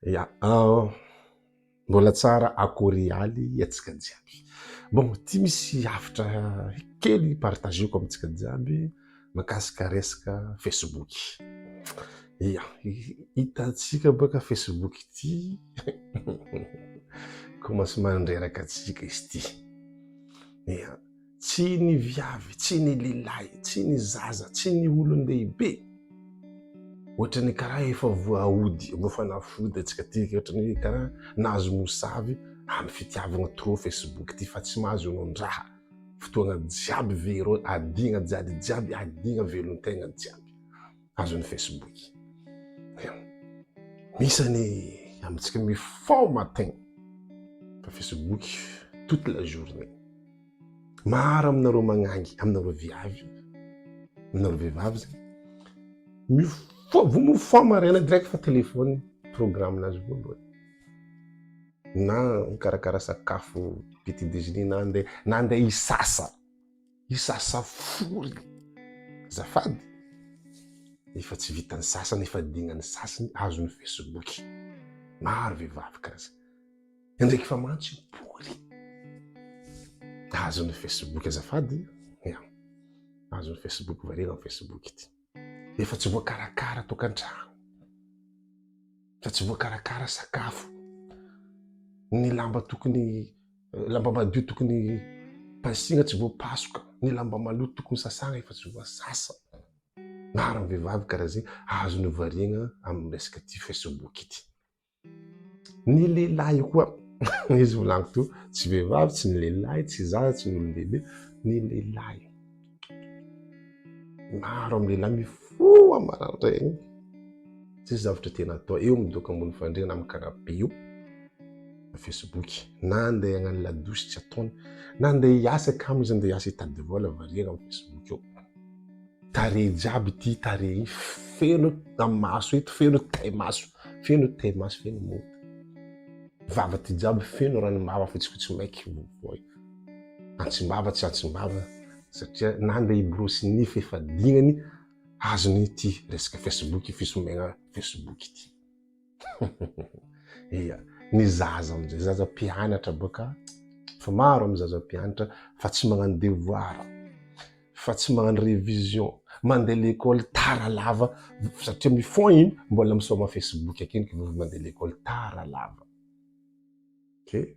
Ya, ah, mbola tsara akory aly antsika jiaby. Bon, ity misy hafatra kely hi-partager-ko amintsika jiaby makasika resaka Facebook. Ya, hitantsika baka Facebook ity, commence mandreraka antsika izy ity. Ya. Tsy ny viavy, tsy ny lilahy, tsy ny zaza, tsy ny olon-dehibe. Ohatra ny karaha efa voaody, efa fanafody antsika ty, ohatra ny karaha nahazo mosavy amin'ny fitiavana trop Facebook ty fa tsy mahazo anondraha. Fotoagna jiaby vero, adigna jiaby jiaby, adigna velon-tegna jiaby. azon'ny Facebook. Misy any amintsika mi fort matin fa Facebook toute la journée. Maro aminareo magnangy aminareo viavy aminareo vehivavy zay mi fort vao mi fort maraina direct fa téléphone programme nazy voalohany na mikarakara sakafo petit déjeuner na andeha na andeha hisasa. Io sasa foriny azafady efa tsy vitan'ny sasany efa dignan'ny sasany azon'ny facebook maro vehivavy kaza endreky fa mantsy pory azon'ny facebook azafady ya azon'ny facebook varira ny facebook ity efa tsy voakarakara tokantrano fa tsy voakarakara sakafo ny lamba tokony Lamba madio tokony pasina tsy voapasoka, ny lamba maloto tokony sasana efa tsy voasasa. Maro ny vehivavy karaha zay azony variagna amin'ny resaka ity facebook ity. Ny lehilahy koa izy volagny teo tsy vehivavy tsy ny lehilahy tsy zaza tsy ny olon-dehibe ny lehilahy. Maro amin'ny lehilahy mifoha maraindraigny, tsisy zavatra tiana atao, eo midoka ambony fandriana amin'ny canapé eo na Facebook, na andeha hagnano ladosy tsy ataony, na andeha hiasa kamo izy andeha hiasa hitady vola variana amin'ny Facebook eo. Tarehy jiaby ity tarehy ity, feno maso eto, feno tay-maso, feno tay-maso, feno mody. Vava ity jiaby feno ranom-bava fotsifotsy maiky. antsimbava tsy antsimbava satria na ndeha hiborosy nify efa dinany azony ity resaka facebook fisombegna facebook ity iya ny zaza amizay zaza mpianatra boka fa maro amin'ny zaza mpianatra fa tsy magnano devoir fa tsy magnano révision mandeha l'école tara lava satria mifon iny mbola misaoma facebook akeny mandeha l'école tara lava okay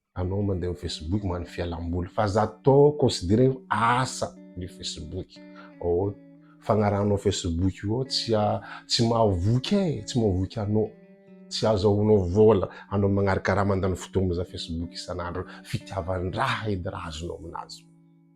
anao mandeha amin'ny Facebook manao fialamboly fa za to considéré asa ny Facebook oh fagnarahanao Facebook io tsy tsy mahavoky e tsy mahavoky anao tsy azahoanao vola anao magnaraka raha mandany fotoana za Facebook isan'andro fitiavan-draha edy raha azonao aminazy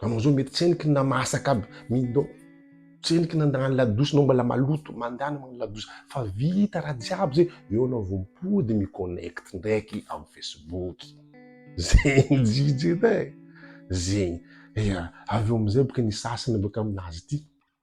Anao zao mety tsy hainy kna mahasaka aby mindo tsy hainy kna andagnany ladosy nao mbala maloto mandany magnano ladosy fa vita raha jiaby zay eo anao vo mipody mi connect ndraiky am facebook zegny jijy edy e zegny ya avy eo amizay boka ny sasany boka aminazy ty